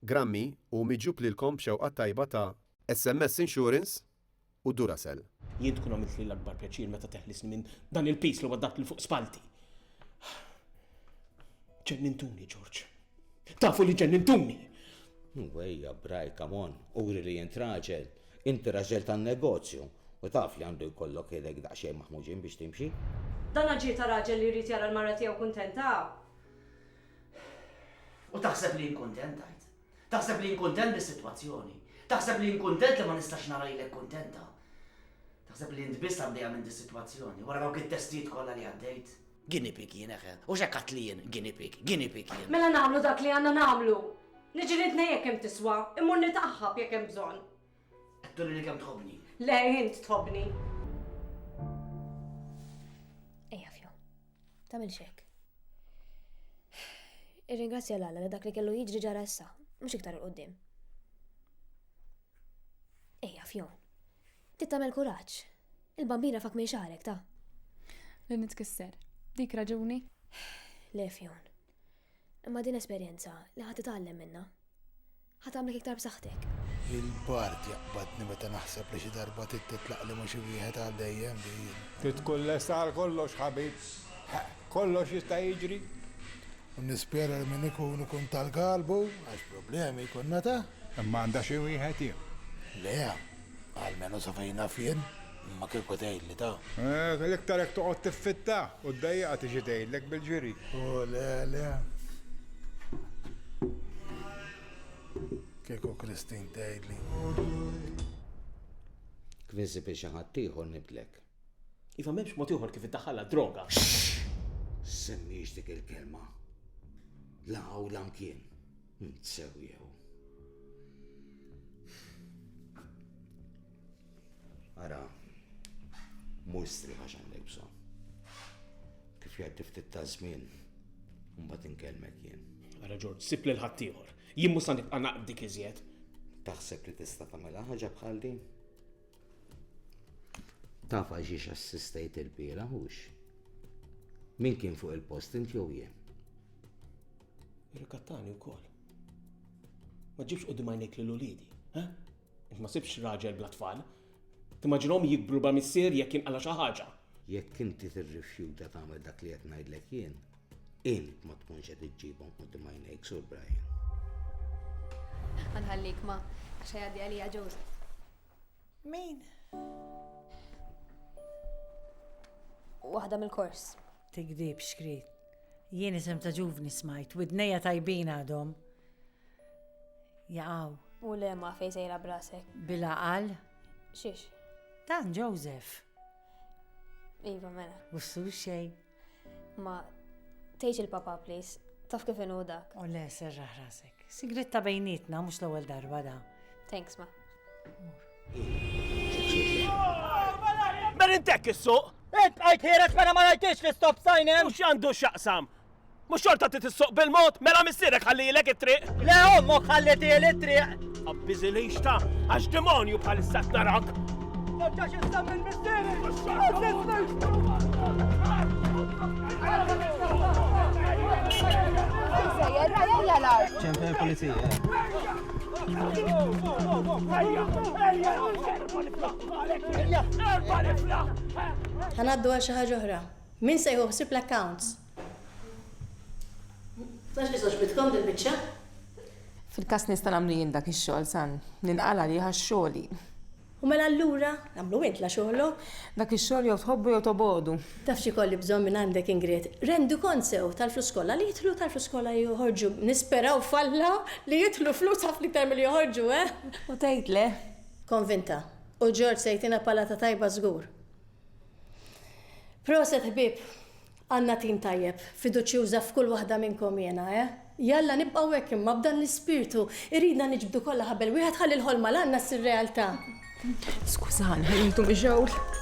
Grammy u miġjub lilkom b'xewqa t-tajba ta'. SMS Insurance u Duracell. Jien tkun għamiltli l-akbar pjaċir meta teħlisni minn dan il-piż li waddagħtli fuq spallti. Ġennintuni, George. Tafu li ġennintuni! Hu, ejja, Bray, come on, uri li int raġel. Inti raġel tan-negozju u taf li għandu jkollok idejk daqsxejn maħmuġin biex timxi. Dan aġir ta' raġel li jrid jara l-mara tiegħu kuntenta! U taħseb li jien kuntent, tgħid? Taħseb li jien kuntent bis-sitwazzjoni? Taħseb li jien kuntent li ma nistax nara lilek kuntenta? Taħseb li int biss għaddejja minn dis-sitwazzjoni wara dawk it-testijiet kollha li għaddejt? Guinea pig jien eħe, u x'hekk għadt li jien guinea pig, guinea pig jien. Mela nagħmlu dak li għandna nagħmlu! Niġilidni jekk hemm tiswa, immur nitgħaħħab jekk hemm bżonn. Qed turi li kemm tħobbni. Le, int tħobbni. Ejja fjo, tagħmel xek. Irringrazzja l li dak li kellu jiġri ġara issa, mhux iktar il-qudiem. Ejja fjo, tittamel kuraġġ. Il-bambina fak minn xarek ta' li nitkisser. Dik raġuni? Le fjon. Imma din esperjenza li ħa titgħallem minnha. Ħa tagħmlek iktar b'saħħtek. Il-bard jaqbadni meta naħseb li xi darba trid titlaq li mhux wieħed għal dejjem din. Trid tkun lesta għal kollox ħabib. Kollox jista' jiġri. U nispjera li min ikun ikun tal-galbu għax problemi jkun nata. Imma għandha xi wieħed jien. Le, Almenu sa fejn naf jien, imma kieku tgħidli ta. L-iktar jekk toqgħod tiffitta u ddejjiqha tiġi tgħidlek bil-ġiri. O le le. Kieku Christine tgħidli. Kwiżi bi xi ħaddieħor nibdlek. Iva m'hemmx mod ieħor kif iddaħħalha d-droga. Xxx! Ssemmiehx dik il-kelma. La hawn la mkien. Int sew jew. Ara, mhu istrieħ għax għandek bżonn. Kif jgħaddi ftit ta' żmien, mbagħad inkellmek jien. Ara Ġorġ, sib lil ħaddieħor. Jien mhux sa nibqa' naqbdik iżjed. Taħseb li tista' tagħmilha ħaġa bħal din? Taf għal xiex assistejt il-bira, hux? Min kien fuq il-post int jew jien? Irrikattani wkoll. Ma ġibx qudiem għajnejk lil uliedi, ha? Int ma sibx raġel bla tfal. Timmaġinhom jikbru ba missier jekk jinqala xi ħaġa. Jekk inti tirrifjuta tagħmel dak li qed ngħidlek jien, int ma tkunx qed iġġibhom qudiem għajnejk sur Brian. Għanħallik ma, għaxa jgħaddi għalija Joseph. Min? Waħda mill-kors. Tigdib xkrit. Jien isem ta' ġuvni smajt, widnejja tajbin għadhom. Jaqaw. U le ma fej sejra brasek. Bila qal? Xiex? Dan Joseph. Iva mela. Bussu xej. Ma tgħidx il-papa please, taf kif inhu dak. U le serraħ rasek. Sigrit ta' bejnietna mhux l-ewwel darba da. Thanks ma. Merintek is-suq! Int għajt ħiereġ mela ma rajtix li stop sign hemm! U x'għandu x'jaqsam? Mhux xorta trid issuq bil-mod, mela missierek ħallielek it-triq. Le ommok ħallitieli t-triq. Abbiżilix ta' għax demonju bħalissa qed narak. Nerġax issa minn missieri. ċempel il-pulizija. Ħanaddu għal xi ħaġa oħra. Min se jħuħsib l-accounts? Nafx kif għoġbitkom dil-biċċa. Fil-każ nista' nagħmlu jien dak ix-xogħol san ninqal' għalih għax xogħli. U mela allura għamlu int la xogħlok. Dak ix-xogħol jew tħobbu jew tobogħdu. Taf x'ikolli bżonn minn għandek Ingrid? Rendukont sew tal-flus kollha li jidħlu u tal-flus kollha li joħorġu. Nisperaw f'Alla li jidħlu flus ħafna iktar milli joħorġu, eh! U tgħid le? Konvinta. U George se jtina palata tajba żgur. Proset ħbieb. Għandna tim tajjeb, fiduċjuża f'kull waħda minnkom jiena, eh? Jalla nibqgħu hekk imma, b'dan l-ispirtu. Irridna niġbdu kollha ħabel wieħed ħalli l-ħolma li għandna ssir realtà. Skużani, ħallejtu mixgħul.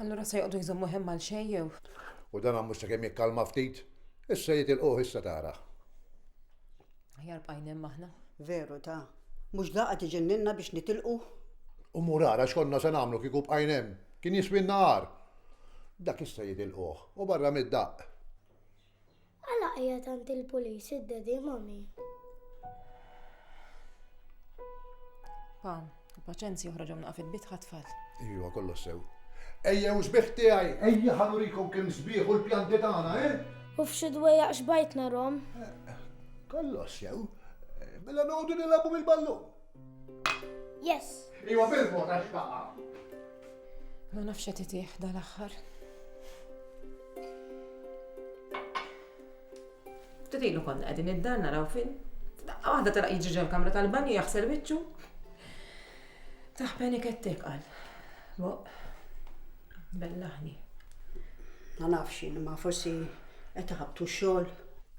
Allura se joqdu jżommu hemm għal xejn jew? U dan mhux sakemm jikkalma ftit, issa jitilquh issa tara. Aħjar bqajna hemm aħna. Veru ta, mhux daqqa tiġenninna biex nitilqu? U mur ara x'konna se nagħmlu kieku bqajna hemm, kien jiswilna agħar. Dak issa jitilquh, u barra mid-daqq. Għala qiegħed għand il-pulis id-dedi mommy? Pa, paċenzi oħra ġom naqaf il-bit ħatfall. Ejwa, kollox sew. Ejja, u sbieħ tiegħi, ejja ħanurikom kemm sbieħ u l-pjanti tagħna, eh? U f'xi dwejja xbajtna rom? Kollox sew. Mela noqogħdu nilagħbu bil-ballu. Yes. Ejwa bil-vota x'baqa'. Ma nafx qed itih dal-aħħar. Titilu konna qegħdin id-dan naraw film. Daqqa waħda tara jiġi ġol kamra tal-banju jaħsel wiċċu. Taħbeni kettek għal. Boq. Bellaħni. Ma nafx jien, ma forsi qed iħabtu xogħol.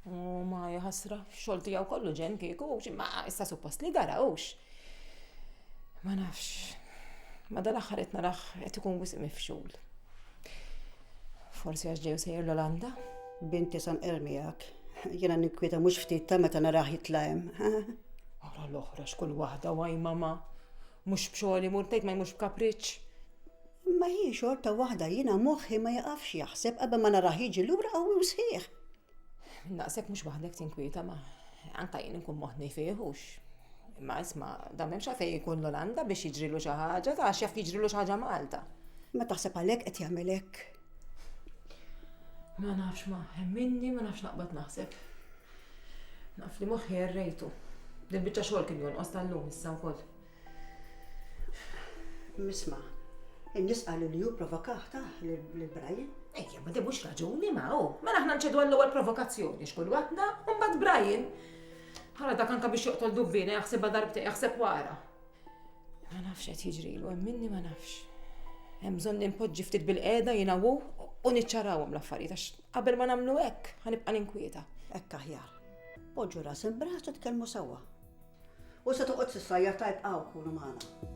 U ma jħasra, xogħol tiegħu kollu ġen kieku, ma issa suppost li dara hux. Ma nafx. Ma dal-aħħar qed naraħ qed ikun wisq mifxul. Forsi għax ġew sejjer l-Olanda? Binti sam miegħek. Jiena ninkwieta mhux ftit ta' meta naraħ jitla' hemm. Ara l-oħra x'kull waħda waj mama. Mhux b'xogħol imur tgħid ma jmux b'kapriċċ. Ma hi xorta waħda jiena moħħi ma jaqafx jaħseb qabel ma naraħ jiġi lura qawwi u sħiħ. Naqsek mhux waħdek tinkwieta ma anka jien nkun moħni fih hux. Imma isma' dan m'hemmx għalfejn jkun l-Olanda biex jiġrilu xi ħaġa, ta' x'jaf jiġrilu xi ħaġa Malta. Ma taħseb għalhekk qed jagħmel hekk? Ma nafx ma minni ma nafx naqbad naħseb. Naf li moħħi errejtu. Din biċċa xogħol kien jonqos tal-lum issa wkoll. Misma', in-nies qalu li hu provokah tah lil Brian. Ejja, ma din mhux raġuni ma hu. Mela aħna nċedu għall-ewwel provokazzjoni x'kull waħda, u mbagħad Brian. Ħala dak anka biex joqtol dubbina jaħsibha darbtejn jaħseb wara. Ma nafx qed jiġrilu, hemm minni ma nafx. Hemm bżonn nimpoġġi ftit bil-qiegħda jiena u u niċċarawhom l-affarijiet għax qabel ma nagħmlu hekk ħanibqa' ninkwieta. Hekk aħjar. Poġġu ras imb'ras u tkellmu sewwa. U se toqgħod sissajjar ta' ibqgħu kunu magħna.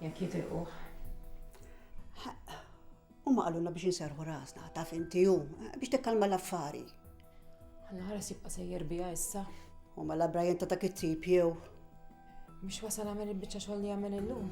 Jekk jitilquh. U ma qalulna biex inserħu rasna, taf inti hu, biex tikkalma l-affari. Għanna ħares jibqa' sejjer biha issa. U ma mela la Brian ta' dak it-tip jew. Biex wasal għamel il-bicċa xogħol li għamel illum.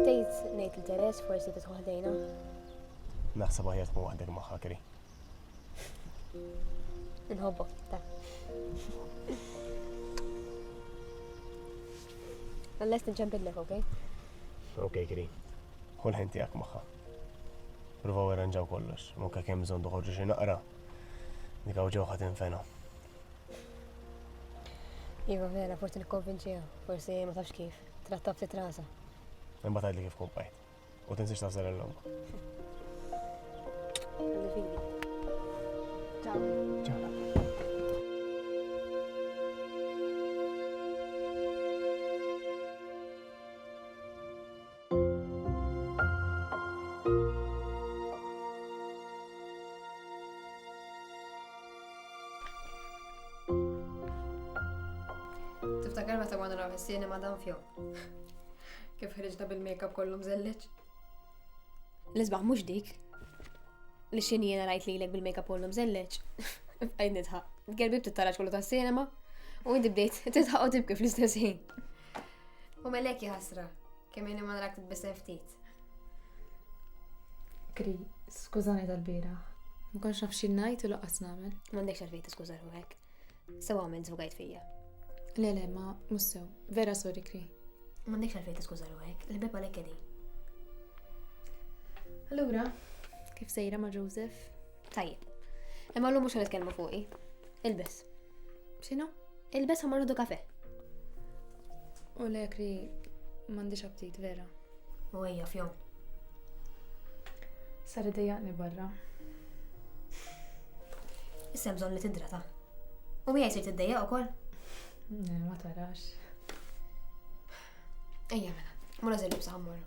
Tgħid ngħid li Teres forsi titħu ħdejna. Naħseb aħjar tkun waħdek magħha kri. Inħobbok, ta. Unless nċempillek, ok? Ok, kri. Kull ħin tiegħek magħha. Provaw irranġaw kollox, mokka kemm bżonn toħorġu xi naqra. Dik hawn ġewħa tinfena. Iva vera, forsi nikkonvinċiha, forsi ma tafx kif, trattab ftit rasa. Imma tgħidli kif kompajt. U tinsiex tażel l-lum. Tiftakar meta konna naraw is-sinema dan fjo. Kif ħriġna bil-makeup kollu mżelliġ? L-isbaħ mhux dik. Li xini jena rajt li l-ek bil-makeup kollu mżelliġ. Għajd nidħaq. Gerbi btittaraġ kollu tas-sinema. U inti bdejt titħaq u tibki fl-istess ħin. U melek jħasra, kemm jeni ma narak titbisem ftit. Kri, skużani tal-bira. Ma konx naf xi ngħid u laqas nagħmel. M'għandekx għalfejn tiskuża ruħek. Sew għamel żvugajt fija. Le le, ma mhux sew. Vera sorry Kri. M'għandekx għalfejn tiskuża ruħek, il-bib għalhekk qegħdin. Allura, kif sejra ma' Joseph? Tajjeb. Imma llum mhux ħanitkellmu fuqi. Ilbes. X'inhu? Ilbes ħamar u kafe. U lek li m'għandix aptit vera. U ejja fjom. Sar idejjaqni barra. Issa hemm bżonn li tidrata. U hija jsir tiddejjaq ukoll? Ne, ma tarax. Ejja mela, mura żel libsa ħammorru.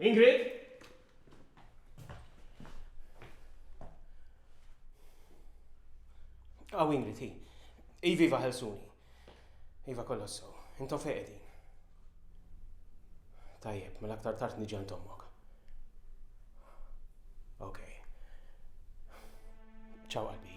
Ingrid? Aw Ingrid, hi. Iviva ħelsuni. Iva kollox sew. Intom fejn qegħdin. Tajjeb, mela aktar tard niġi għand ommok. Okay. Ciao, Albi.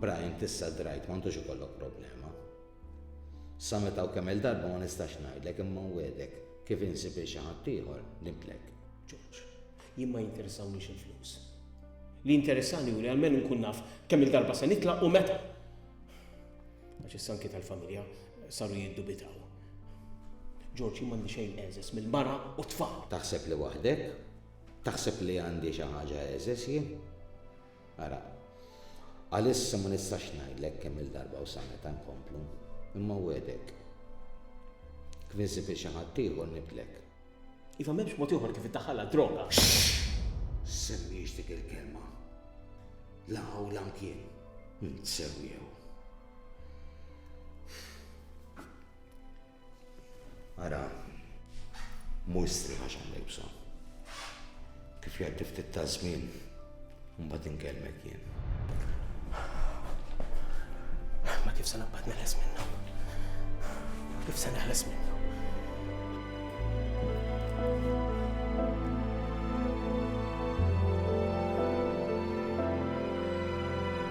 Brian tissa drajt m'għandux ikollok problema. Sa meta u kemm-il darba ma nistax ngħidlek imma nwegħdek kif insib il xi ħadd ieħor nibtlek. George, jien ma jinteressawniex il-flus. Li jinteressani hu li almenu nkun naf kemm-il darba se nitlaq u meta. Għax issa anki tal-familja saru jiddubitaw. George, jien m'għandi xejn eżes mill-mara u t-tfal. Taħseb li waħdek? Taħseb li għandi xi ħaġa eżes jien? Ara, għalissa ma nistax ngħidlek kemm-il darba u sa meta nkomplu, imma wegħdek, kmiżi fi xi ħaddieħor nitlek. Iva m'hemmx mod ieħor kif iddaħħalha d-droga. Semmix dik il-kelma. La hawn la mkien. Ntsewjew. Ara, mhux strieħ għax għandek bżonn. Kif jgħaddi ftit ta' żmien, mbagħad inkellmek jien. Ma kif se naqbad neħles minnu? Kif se neħles minnu?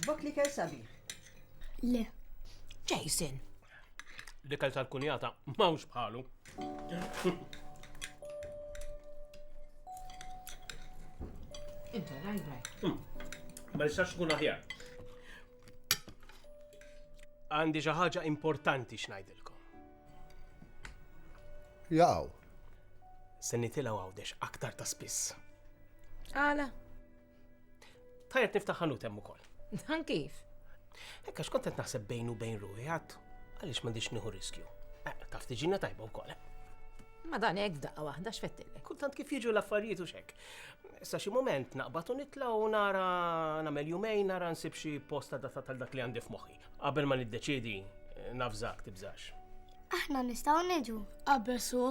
Oġbok li kell sabiħ. Le. Jason. Li kell tal-kunjata mawx bħalu. Inta, rajt, rajt. Hmm. Ma nistax kun aħjar. Għandi xi ħaġa importanti xnajdilkom. Jaqaw. Se nitilgħu għawdex aktar ta' spiss. Għala? Tajjeb niftaħ ħanut hemm ukoll. Dan kif? Ekka xkont qed naħseb bejn u bejn ruħi għad għaliex m'għandix nieħu riskju. Eh, taf tiġina tajba wkoll. Eh? Ma dan hekk daqqa waħda x'fettilek. Kultant kif jiġu l-affarijiet u xek. Sa xi moment naqbad u nitla' u nara nagħmel jumejn nara nsib xi posta data tal dak li għandi f'moħħi. Qabel ma niddeċiedi, nafżak tibżax. Aħna nistgħu niġu. Abbesu.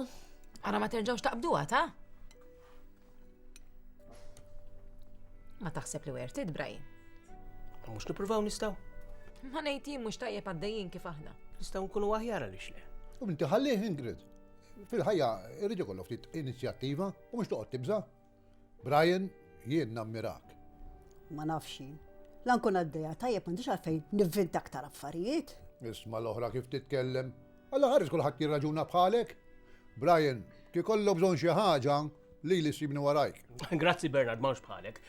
Ara ma terġgħux taqbduha ta? Ma taħseb li wer tidbrajin. Mhux nippruvaw nistgħu. Ma ngħid jien mhux tajjeb għaddejjin kif aħna. Nistgħu nkunu aħjar għaliex le. U inti ħallih Ingrid. Fil-ħajja irrid ikollok ftit inizjattiva u mhux toqgħod tibża'. Brian, jien nammirak. Ma nafx jien. La nkun għaddejja tajjeb m'għandix għalfejn nivvinta aktar affarijiet. Isma' l-oħra kif titkellem. Alla ħares kulħadd jirraġuna bħalek. Brian, kif ikollok bżonn xi ħaġa, lili ssibni warajk. Grazzi Bernard, m'hawnx bħalek.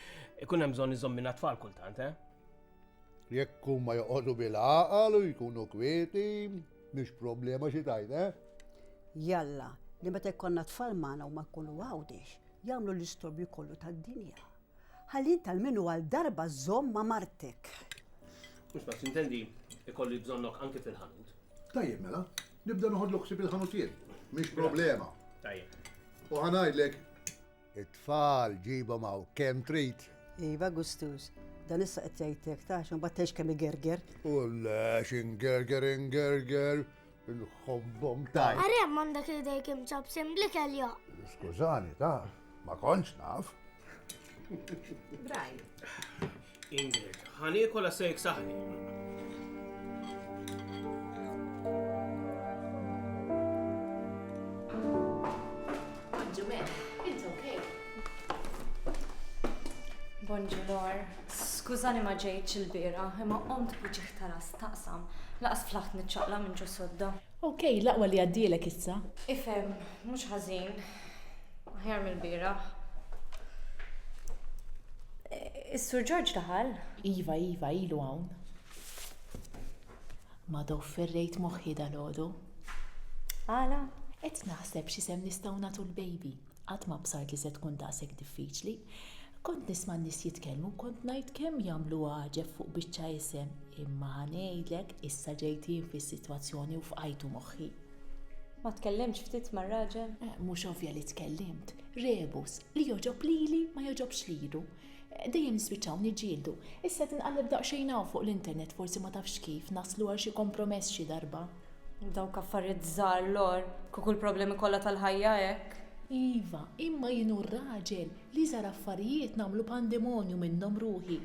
Ikun hemm bżonn iżommilna t-tfal kultant, eh? Jekk huma joqogħdu bil-għaqal u jkunu kwieti, mhix problema xi tgħid, eh? Jalla, li meta jkollna tfal magħna u ma jkunu għawdex, jagħmlu l-istorbju kollu tad-dinja. Ħalli tal minu għal darba żomm ma' martek. Mhux ma tintendi ikolli bżonnok anki fil-ħanut. Tajjeb mela, nibda noħodlu ħsib il-ħanut jien. Mhix problema. Tajjeb. U ħanajdlek It-tfal ġibhom hawn kemm trid. Iva gustuż. Dan issa qed jgħid hekk ta' għax imbagħad tgħix kemm igerger. U le għax ingerger ingerger, inħobbhom tant. Ara hemm għandek idejk imċapsin bl-ikel jo! Skużani ta', ma kontx naf. Brian. Ingrid, ħa niekol għax se jiksaħni. Bonġulor, skużani ma ġejtx il-bira, imma qomt biex taras taqsam, laqas flaħt niċċaqla minn ġo sodda. Okej, laqwa li għaddilek issa. Ifem, mhux ħażin, Aħjar mill-bieraħ. Is-Sur Ġorġ daħal? Iva, iva, ilu hawn. Madò ferrejt moħħi dalgħodu. Għala? Qed naħseb x'isem nistgħu nagħtu l-baby. Qatt m'absart li se tkun daqshekk diffiċli. Kont nisma' n-nies jitkellmu u kont ngħid kemm jagħmlu għaġeb fuq biċċa isem, imma ħa ngħidlek issa ġejt jien fis-sitwazzjoni u fqajtu moħħi. Ma tkellimtx ftit mar-raġel? Eh, mhux ovvja li tkellimt. Rebus, li jogħġob lili ma jogħġobx lilu. Eh, dejjem nispiċċaw niġġieldu. Issa tinqalleb daqsxejn hawn fuq l-internet forsi ma tafx kif naslu għal xi kompromess xi darba. Dawk affarijiet żgħar lor, kieku l-problemi kollha tal-ħajja hekk. Iva, imma jien u r-raġel li żar affarijiet nagħmlu pandemonju minnhom ruħi.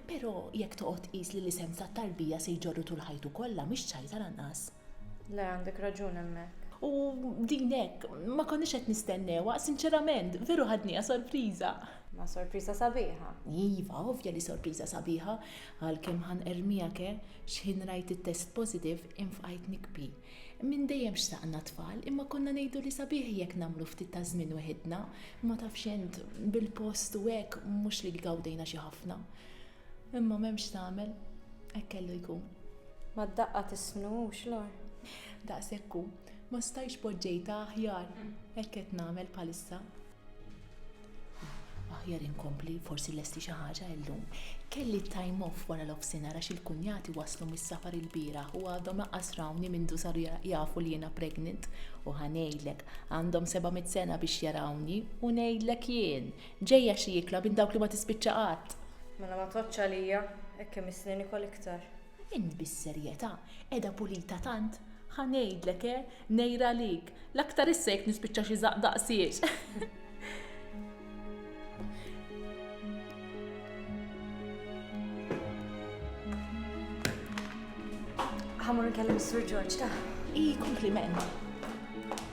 Però jekk toqgħod tqis li l-isem tat-tarbija se jġorru tul ħajtu kollha mhix ċajta lanqas. Le, għandek raġun hemmhekk. U din hekk, ma konniex qed nistennewha, sinċerament, veru ħadniha sorpriża. Ma sorpriża sabiħa. Iva, ovvja li sorpriża sabiħa, għalkemm ħa nqerrmiha ke, x'ħin rajt it-test positive, infqajt nikbi. Minn dejjem xtaqna tfal, imma konna ngħidu li sabiħ jekk nagħmlu ftit ta' żmien weħidna, ma tafx int, bil-post u hekk, mhux li gawdejna xi ħafna. Imma m'hemmx x'tagħmel, hekk kellu jkun. Mad-daqqa tisnux l-għar. Daqshekk hu, ma stajtx poġġejtha aħjar, hekk qed nagħmel bħalissa. Aħjar inkompli, forsi lesti xi ħaġa illum. Kelli t-time off wara l-offsinhar għax il-kunjati waslu mis-safar ilbieraħ u għadhom laqqas rawni mindu saru jafu li jiena pregnant. U ħa ngħidlek, għandhom seba' mitt sena biex jarawni u ngħidlek jien, Ġejja xi ikla minn dawk li ma tispiċċa qatt. Mela ma tgħoddx għalija, hekk imissni nikol iktar. Int bis-serjetà, qiegħda pulita tant? Ħa ngħidlek, eh, ngħir għalik, l-aktar issa jekk nispiċċa xi żaqq daqsiex. Ħa mmur nkellem is-Sur Ġorġ, ta? Hi, kompliment.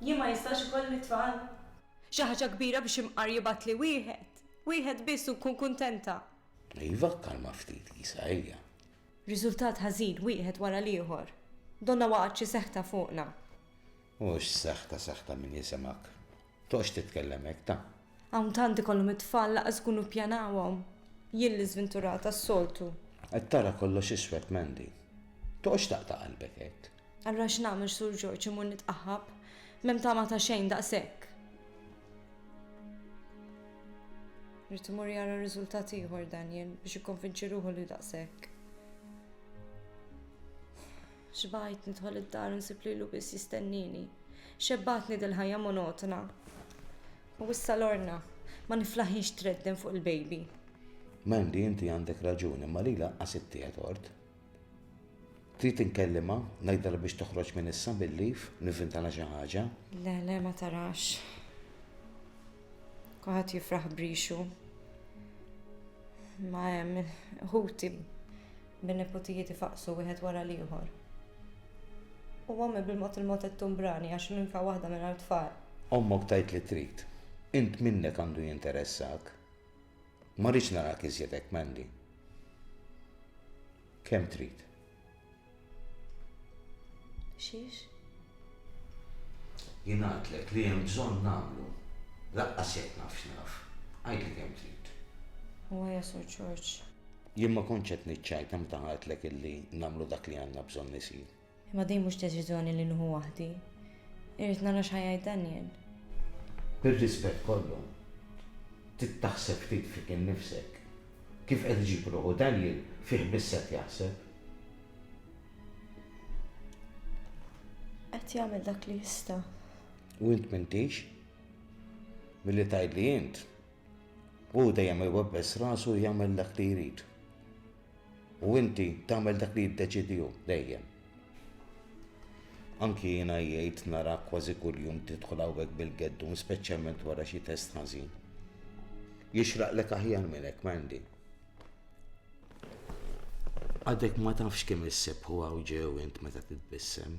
Jien ma jistax ikolli t-tfal? Xi ħaġa kbira biex imqar jibgħatli wieħed. Wieħed biss u nkun kuntenta. Iva, kkalma ftit Isa, ejja. Riżultat ħażin wieħed wara l-ieħor. Donnha waqgħet xi seħta fuqna. Mhux seħta seħta min jisimgħek. Toqgħodx titkellem hekk, ta. Hawn tant ikollhom it-tfal lanqas ikunu ppjanawhom. Jien li żvinturata s-soltu. Qed tara kollox iswed Mandy. Toqgħodx taqta' qalbek hekk. Allura x'nagħmel Sur Ġorġ imur nitqaħħab? M'hemm tama ta' xejn daqshekk. Rrid imur jara riżultat ieħor Daniel biex ikkonvinċi ruħu li daqshekk. Xbajt nidħol id-dar nsib lilu biss jistennini. Xebbatni dil-ħajja monotona. U issa lorna, ma niflaħiex tredden fuq il-baby. Mandy, inti għandek raġuni, ma lila qasibtiha tort. Trid inkellimha, ngħidilha biex toħroġ minn issa bil-leave, nivvintalha xi ħaġa. Le, le ma tarax. Kulħadd jifraħ brixu. Ma hemm ħuti bin-niputijiet ifaqsu wieħed wara l-ieħor. U għammi bil-mod il-mod qed tumbrani għax minn fa waħda minn għal tfal. Ommok tajt li trid. Int minnek għandu jinteressawk. Ma rridx narak iżjed hekk, Mandy. Kemm trid? Xiex? Jien għidlek li hemm bżonn nagħmlu. Laqqas jekk naf x'naf. Għidli kemm trid. U ja Sur Ġorġ. Jien ma kontx qed niċċajta meta għidlek illi nagħmlu dak li għandna bżonn isir. Imma din mhux deċiżjoni li nieħu waħdi. Irrid nara x'ħajgħid Daniel. Bir-rispett kollu, trid taħseb ftit fik innifsek. Kif qed iġib ruħu Daniel, fih biss qed jaħseb. Qed jagħmel dak li jista'. U int m'intix? Milli tgħidli int, hu dejjem iwebbes rasu jagħmel dak li jrid. U inti tagħmel dak li jiddeċiedi hu, dejjem. Anki jiena jgħid narak kważi kuljum tidħol hawnhekk bil-geddun, speċjalment wara xi test ħażin. Jixraqlek aħjar minn hekk, Mandy. Għadek ma tafx kemm issebħu hawn ġew int meta titbissem.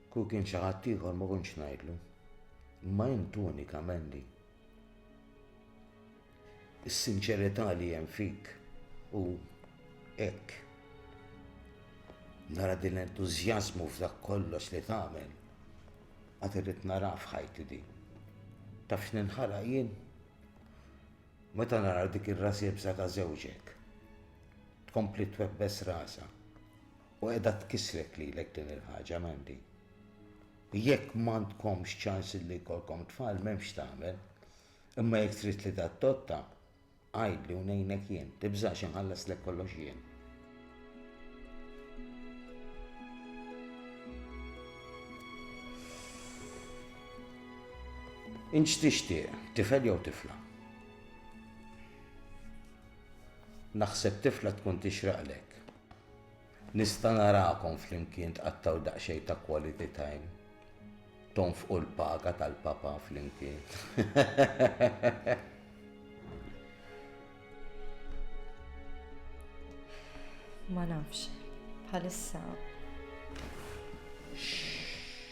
Kieku kien xi ħadd ieħor ma kontx ngħidlu. Imma int unika, Mandy. Is-sinċerità li hemm fik u hekk. Nara din l-entużjażmu f'dak kollox li tagħmel. Għad irrid nara f'ħajti di. Taf x'ninħala jien? Meta nara dik ir-ras ibsa ta' żewġek. Tkompli twebbes rasha. U qiegħda tkissrek lilek din il-ħaġa, Mandy. Jekk m'għandkomx ċans li jkollkom tfal m'hemmx tagħmel, imma jekk trid li tadotta, għidli u ngħinek jien, tibżax inħallaslek kollox jien. Int x'tixtieq, tifel jew tifla? Naħseb tifla tkun tixraqlek. Nista' narakom flimkien tqattgħu daqsxejn ta' quality time. Tonfqu l-paga tal-Papa flimkien. Ma nafx, bħalissa.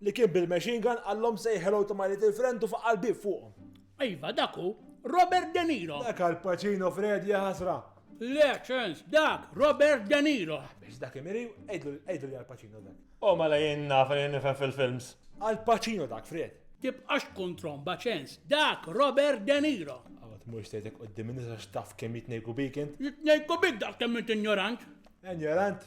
li kien bil-machine gun qallhom say hello to my little friend u faqqa' l-bieb fuqhom. Iva, dak hu Robert De Niro! Dak Al Pacino Fred, ja ħasra! Le, ċens, dak Robert De Niro! Biss dak imiri, għidlu li Al Pacino dak. O mela jien naf li nifhem fil-films. Al Pacino dak, Fred! Tibqax tkun tromba, ċens, dak Robert De Niro! Qatt mhux tgħidlek quddiem in-nies għax taf kemm jitnejku bik int. Jitnejku bik daqs kemm int injorant! Injorant?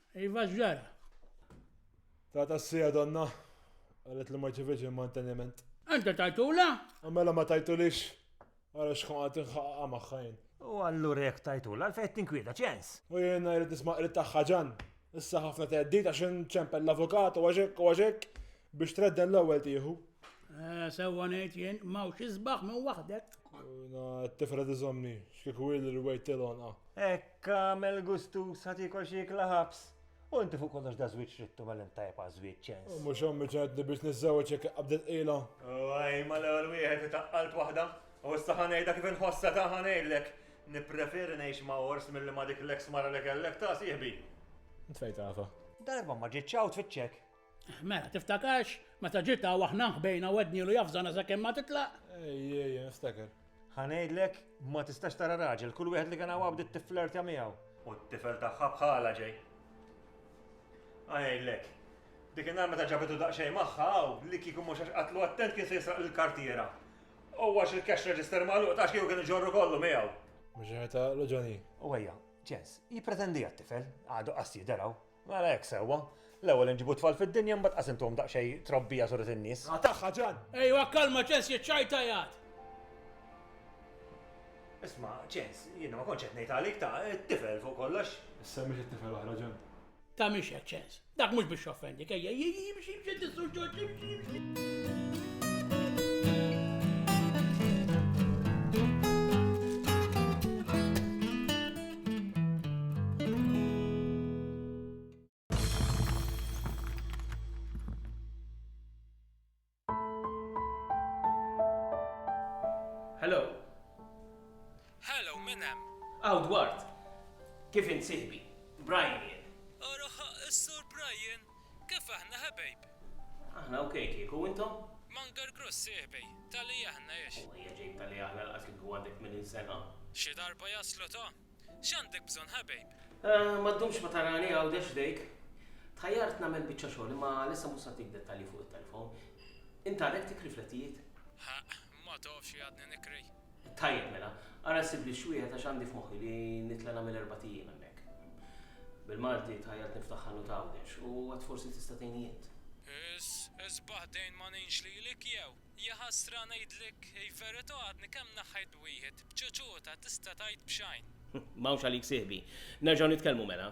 Iva x'ġara? Tata s-sija donna, qalet li ma rċevietx il-manteniment. Int tajtula? Mela ma tajtulix, ara x'kun qed inħaqqa magħha jien. U allura jekk tajtula għalfejn qed tinkwieta, ċens? U jiena jrid nisma' qriet tagħha Ġann. Issa ħafna theddid għax inċempel l-avukat u għax hekk u għax hekk biex tredden l-ewwel tieħu. Sewwa ngħid jien, m'hawnx isbaħ minn waħdek. Jiena t-tifla tiżommni, x'kieku hi li rwejt il-għonqha. Kamel gustus ħat ikol xi ikla ħabs. U inti fuq kollox da żwieġ rittu mal intajb għal żwieġ ċens. Mhux ommi ċed li biex niżżewġ jekk qabdet qila. Għaj, ma l-ewwel wieħed itaqqalt waħda, u issa ħanejda kif inħossa ta' ħanejdlek. Nippreferi ngħix ma' ors milli ma' dik l-eks mara li kellek ta' sieħbi. Int fejn tafha? Darba ma ġietx hawn tfittxek. Mela, tiftakarx, meta ġiet hawn aħna nħbejna u għednielu jafżana sakemm ma titlaq? Ejjej, niftakar. Ħa ngħidlek, ma tistax tara raġel, kull wieħed li kien hawn bdiet tifflertja miegħu. U t-tifel tagħha bħalha ġej. Ħa ngħidlek, dik in-nhar meta ġabitu daqsxejn magħha hawn, li kieku mhux għax qatlu attent kien se jisraq lill-kartiera. U għax il-cash register magħluq taf kieku kien iġorru kollu miegħu. Mhux qed taqlu, Johnny? U ejja, Jens, jippretendi għat-tifel, għadu qas jidher hawn. Mela hekk sewwa. L-ewwel inġibu t-tfal fid-dinja mbagħad qas intuhom daqsxejn trobbija suret in-nies. Qatagħha Ġan! Ejwa kalma Ċens jekk xi jtajjat! Isma' Ċens, jiena ma kontx qed ngħid għalik, ta' it-tifel fuq kollox. Issemmix it-tifel oħra Ġan. Ta' mhix hekk Ċens. Dak mhux biex joffendik, ejja imxi imxi għand is-Sur Ġorġ imxi imxi. Hello. Hello, min hemm? Aw Dwart. Kif int sieħbi? Brian jien. Araħaq is-Sur Brian. Kif aħna ħebejb! Aħna ok kieku, u intom? Munger Grossi Ħbej, tali aħna għex. U ejja ġejb tali aħna lanqas kieku għandek 80 sena. Xi darba jaslu ta! X'għandek bżonn ħebejb? Ma ddumx ma tarani Għawdex f'dejk. Tħajjart nagħmel biċċa xogħol imma għalissa mhux se ntik dettalji fuq it-telefon. Int għadek tikri flettijiet? Ħaqq, Ma tafx li għadni nikri? Tajjeb mela, ara ssibli x'wieħed għax għandi f'moħħi li nitla' nagħmel erbat ijiem hemmhekk. Bil-Malti tħajjart niftaħ ħanut Għawdex u għad forsi tista' tgħinni int. Is, isbaħ dejn ma ngħinx lilek jew? Jaħasra ngħidlek il-verità għadni kemm naħħejt wieħed b'ċuċuta tista' tgħid b'xajn. M'hawnx għalik sieħbi. Nerġgħu nitkellmu mela.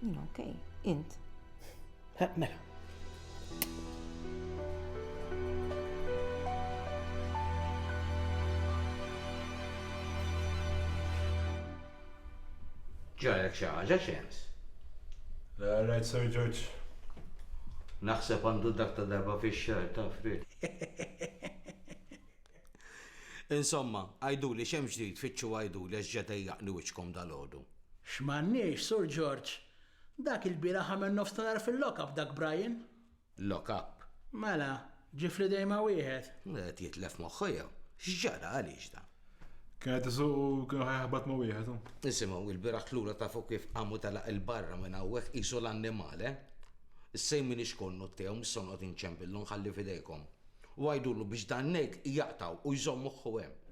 Jina, ok, int. Mela. Ġarek xi ħaġa xems? La, rajt Sir George. Naħseb għandu dak ta' darba fix-xahar ta' frit. Insomma, għiduli x'hemm ġdid, fittxu għiduli għax ġa dejjaqni wiċċkom dalgħodu. X'm'għandniex, Sur George? Dak ilbieraħ għamel nofstanhar fil-lock up dak Brian. Lock up? Mela, ġie fl-idejn ma' wieħed. Qed jitlef moħħu jew? X'ġara, għaliex dan? Kien qed isuq u kien ħa jaħbat ma' wieħed hu. Isimgħu, ilbieraħ lura tafu kif qam u telaq 'il barra minn hawnhekk qisu l-annimal, eh? Issa jien m'iniex konnut tiegħu, m'issa noqgħod inċempillu, nħalli f'idejkom. U għidulu biex dan-ngħid jaqtgħu u jżomm moħħu hemm.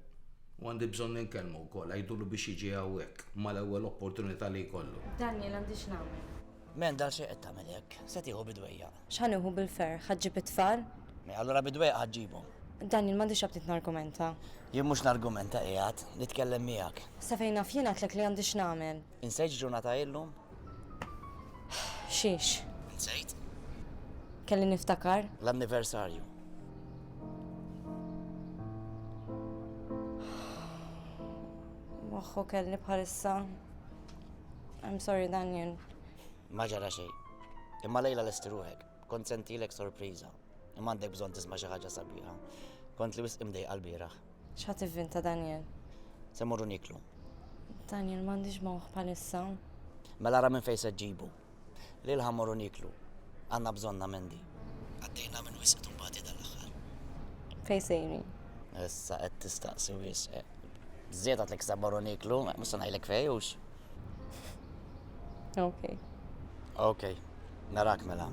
U għandi bżonn inkellmu wkoll, għidulu biex jiġi hawnhekk, mal-ewwel opportunità li jkollu. Daniel, Għandi x'nagħmel? Mend, Għalxejn qed tagħmel hekk. Se tieħu bid-dwejjaq. X'ħa nieħu bil-ferħ? Ħa ġġib it-tfal? Mea, allura bid-dwejjaq ħa ġġibhom. Daniel, M'għandix aptit nargumenta. Jien mhux nargumenta, qiegħed nitkellem miegħek. Sa fejn naf jien għedtlek li għandi x'nagħmel. Insejt ġurnata illum? Xiex? Insejt? Kelli niftakar? L-anniversarju. Moħħu kelli bħalissa. I'm sorry, Daniel. Ma ġara xej. Imma lejla l-esti ruħek. Kont sentilek sorpriza. Imma għandek bżon tisma xi ħaġa sabiħa. Kont li wisq imdej qalbira. X'ħa tivvin ta' Daniel? Se mmorru nieklu. Daniel, M'għandix mawħ bħalissa. Mela ara minn fejn se ġġibu. Lil ħa mmorru nieklu. Għandna bżonnha Mandy. Għaddejna minn wisq tumbati dan l-aħħar. Fejn sejrin? Issa qed tistaqsi wisq. Żied għadlek se mmorru nieklu, mhux se ngħidlek fejn, hux? Okej. Okej. Narak mela.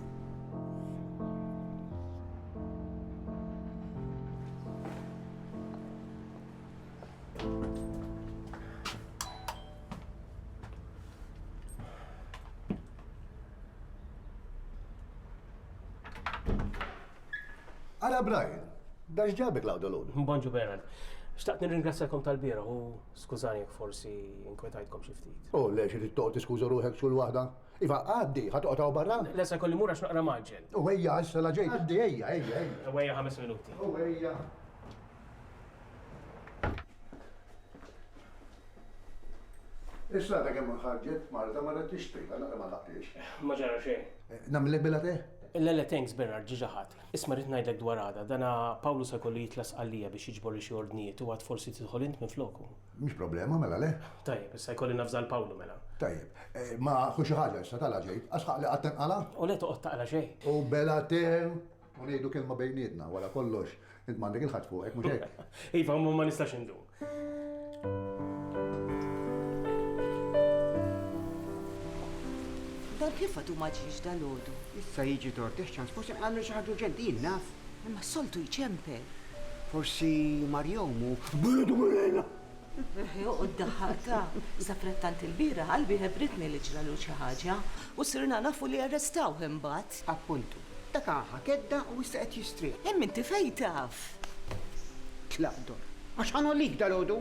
Ara Brian, dax ġabek lawda l-għodu. Bonġu Bernard. Xtaqt nirringrazzjakom tal-bira u skużani jek forsi inkwetajtkom xiftit. U oh, le xi tittoq tiskuża ruħek xul waħda? Iva, għaddi, ħa toqgħod hawn barra? Le, se jkolli mmur għax naqra mgħaġġel. U ejja, issa la ġejt. Għaddi, ejja, ejja, ejja. U ejja ħames minuti. U ejja. Issa għadha kemm ħarġet marda ma qed tixtrika naqra ma taqtix. Ma ġara xejn. Eh, Namlek billa te? Le le thanks Bernard ġiġa ħadd. Isma' rrid ngħidlek dwar għada, dana Pawlu se jkollu jitlas għalija biex jiġbor li xi ordnijiet u għad forsi tidħol int minn floku. Mhix problema mela le. Tajjeb, issa jkolli nafża l Pawlu mela. Tajjeb, eh, ma ħu xi ħaġa issa tala ġejt, għax ħaqli qatt tinqala'? U le toqgħod taqla xejn. U bela te, u ngħidu kelma bejnietna, wara kollox, int m'għandek il-ħadd fuqek, mhux hekk? Iva, ma nistax indum. Dan kif għadu ma ġiex dal-għodu? Issa jiġi tortex ċans, forsi nqallu xi ħaġa urġenti, jien naf. Imma s-soltu jċemper. Forsi Marjom u Bietu Malena! Joqgħod daħħaqtha. Saprattant ilbieraħ qalbi ħebbritni li ġralu xi ħaġa u sirna nafu li arrestawh imbagħad. Appuntu. Dak aha kedda u issa qed jistrieħ. Imma inti fejn taf? Tlaq dor. Għax ħa ngħollik dalgħodu!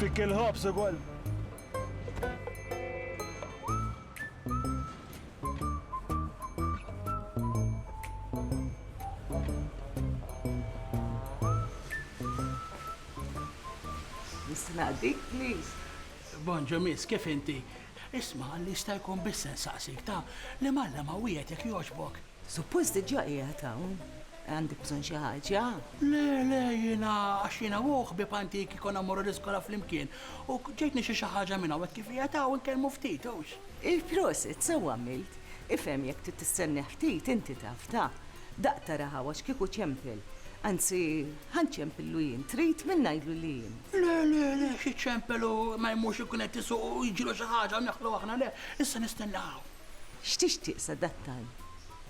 Fik il-ħobż ukoll. Nista' naqdik, please? Bonġu miss, kif inti? Isma' li jista' jkun biss insaqsik ta' li m'Alla ma wieħed jekk jogħġbok. Suppost diġà qiegħed hawn. Għandek bżonn xi ħaġa? Le, le, jiena għax jiena u ħbieb antiki konna morru l-iskola flimkien u ġejtni xi xi ħaġa minn hawn kif qiegħed hawn inkellmu ftit hux. Prosit, sew għamilt. Ifhem jekk trid tistennih ftit inti taf ta. Daqq tara hawn għax kieku ċempel. Anzi, ħa nċempillu jien, trid min ngħidlu li jien? Le, le, le, xi ċempel u ma jmurx ikun qed isuq u jiġilu xi ħaġa u neħlu aħna le, issa nistenna hawn. X'tixtieq sadattant?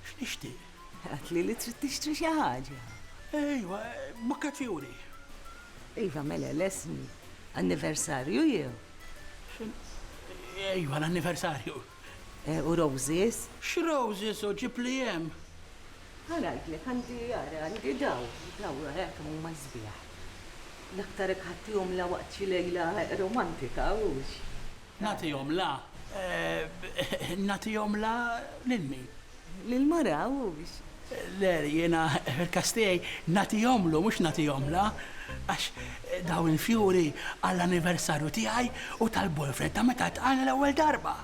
X'nixtieq? Għedtli li trid tixtri xi ħaġa. Ejwa, bukket fjuri. Iva, mela, lestni. Anniversarju jew? Ejwa, l-anniversarju. U roses? X'roses u ġibli hemm? Ħa ngħidlek, għandi, ara, għandi dawn, dawn, ara kemm huma sbieħ. L-aktar hekk ħadtihom la waqt xi lejla romantika, hux? Nagħtihom la? Nagħtihom la lil min? Lill-mara, hux? Le, jiena, fil-każ tiegħi, nagħtihomlu, mhux nagħtihomla. Għax dawn il-fjuri għall-anniversarju tiegħi u tal-boyfriend ta' meta ltqajna l-ewwel darba.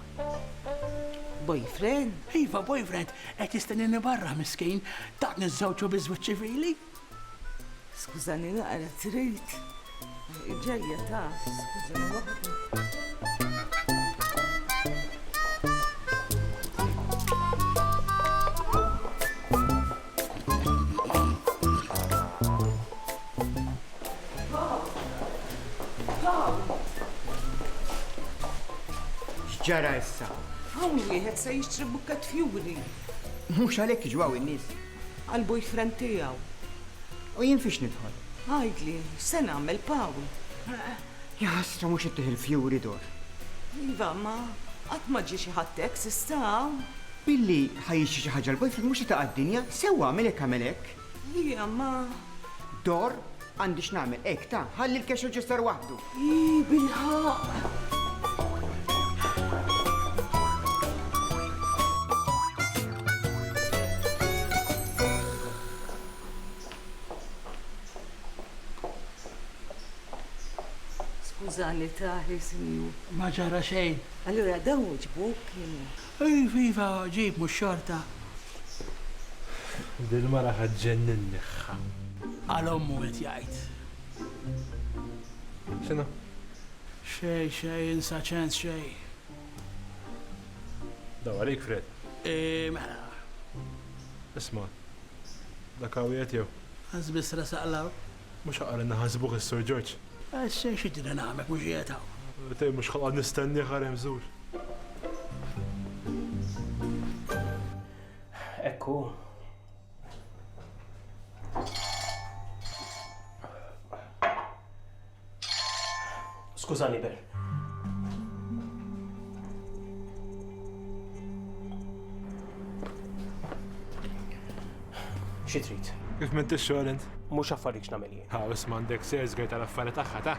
Boyfriend? Iva, boyfriend, qed jistennini barra, miskin, tatni żżewġu biż-żwieġ ċivili. Skużani naqra trid. Ġejja taf, skużani waħda. X'ġara issa? Hawn wieħed se jixtri bukket fjuri. Mhux għalhekk jiġu hawn in-nies. għall-boyfriend tiegħu. U jien fiex nidħol? Għidli, x'se nagħmel, Pawl? Jaħasra mhux ittih il-fjuri dur. Iva, imma qatt ma ġie xi ħadd hekk s'issa hawn. Billi ħa jixtri xi ħaġa l-boyfriend mhux se taqa' d-dinja, sewwa għamel hekk għamel hekk. Liam, ma. Dor Għandi x'nagħmel, hekk ta, ħalli l-cash register waħdu. Ii, bilħaqq! Skużani, Tahir, sinjur. Ma ġara xejn. Allura dawn ġbuk kienu. Iv iva ġib mhux xorta. Dil mara ħa ġġenninni ħa. Għal ommu qed jgħid. X'inhu? Xejn xejn insa ċens xejn. Daw għalik Fred. Eeh mela. Isma'. Dak hawn qiegħed jew? Għażbiss resaq 'l hawn. Mhux ħaqar inħasbuh is-Sur George. Issa xi tridni nagħmel, mhux qiegħed hawn? Tgħid mhux ħaqar nistennieh ara hemm żur. Hekk hu. Skużani, Ben. Xi trid? Kif minn tixxogħol int? Mhux affarijiet nagħmel jien. Ha, isma' għandek sejrs għajt tal-affarijiet tagħha ta'.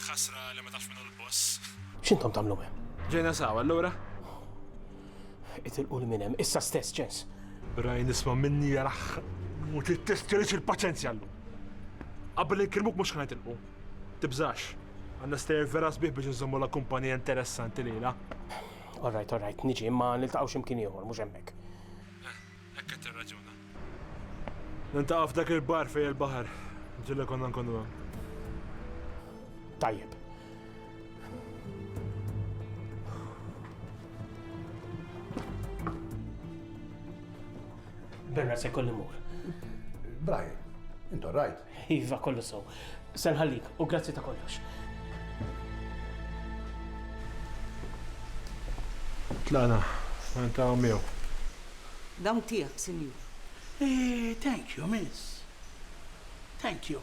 Ħasra li ma tafx minn l-boss. X'intom tagħmlu hemm? Ġejna sawa allura? Itilqu minn hemm, issa stess ċens. Rajn isma' minni jaraħ. U tittestjelix il-paċenzja llum. Qabel inkirmuk mhux ħan itilqu. Tibżax. Għandna stejjer vera sbieħ biex inżommu l-akkumpanija interessanti lejla. All right, all right, niġi, imma niltaqgħu xi mkien ieħor, mhux hemmhekk. Hekk qed tirraġuna. Niltaqgħu f'dak il-bar fejn il-baħar. Ġilla konna nkunu hemm. Tajjeb. Berra se kolli mur. Brian, intu rajt. Iva, kollu sew. Se nħallik, u grazzi ta' kollox. Tlaqna, niltaqgħu miegħu. Dawn tiegħek, Sinjur. Thank you, miss. Thank you.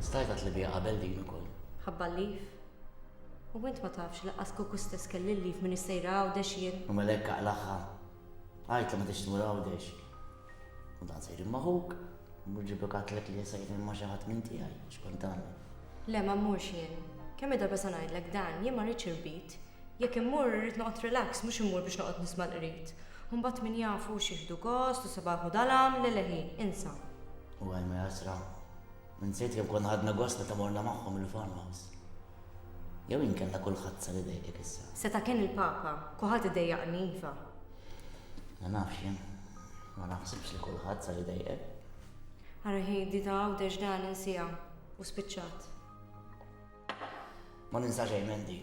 Stajt għadt li biha qabel din ukoll. Ħabba l-leave. U int ma tafx li laqqas kieku stess kelli l-leave minix sejra Għawdex jien. U mela hekk aqlagħha. Għidt li ma tridx tmur Għawdex. U dan se jġib ma' ħuk. Mur ġiblu katlek li se jkun ma' xi ħadd minn tiegħi, x'kont tagħmel? Le ma mmurx jien. Kemm-il darba se ngħidlek dan, jien ma rridx irbit. Jekk immur irrid noqgħod relax mhux immur biex noqgħod nisma' l-qrid. U mbagħad min jaf hux jieħdu gost u sabaħ u dalam, le le hi, insa. U għajn ma jasra. Insejt kemm konna ħadna gost meta morna magħhom il-farmhouse. Jew inkella kulħadd sar idejqek issa. Seta' kien il-Papa, kulħadd idejjaqni iva. Ma nafx jien. Ma naħsibx li kulħadd sar idejqek. Ara hi di ta' Għawdex dan insiha u spiċċat. Ma ninsa xejn Mandy.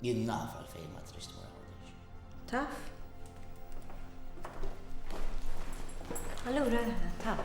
Jien naf għalfejn ma trix tmur Għawdex. Taf? Allura, taf.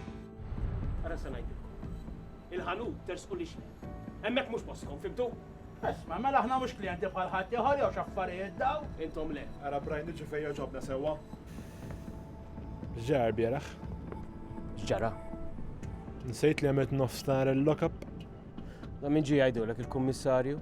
Ara se ngħidilkom. Il-ħanut tersqu l-ixħel. Hemmhekk mhux postkom, fimtu? Isma', mela aħna mhux klijenti bħal ħadd ieħor jew x'affarijiet dawn? Intom le. Ara Brian niġu fejn jogħġobna sewwa. X'ġara l-bieraħ? X'ġara? Nsejt li għamilt nofs nar il-lockup. Da min ġie jgħidulek il-kummissarju?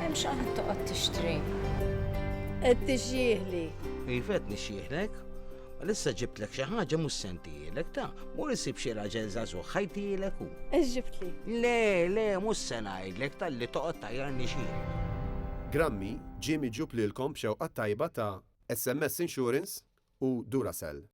Hemm xi qed toqgħod tixtri. Qed tixjieħli. Iva qed nixjieħlek. Lissa ġibtlek xi ħaġa mhux sentijilek ta' mur isib xi raġel żagħżugħ ħajtijilek hu. Ex ġibtli. Le, le, mhux se ngħidlek talli toqgħod tajjarni xi. Grammy ġie miġjub lilkom b'xewqat tajba ta' SMS Insurance u Duracell.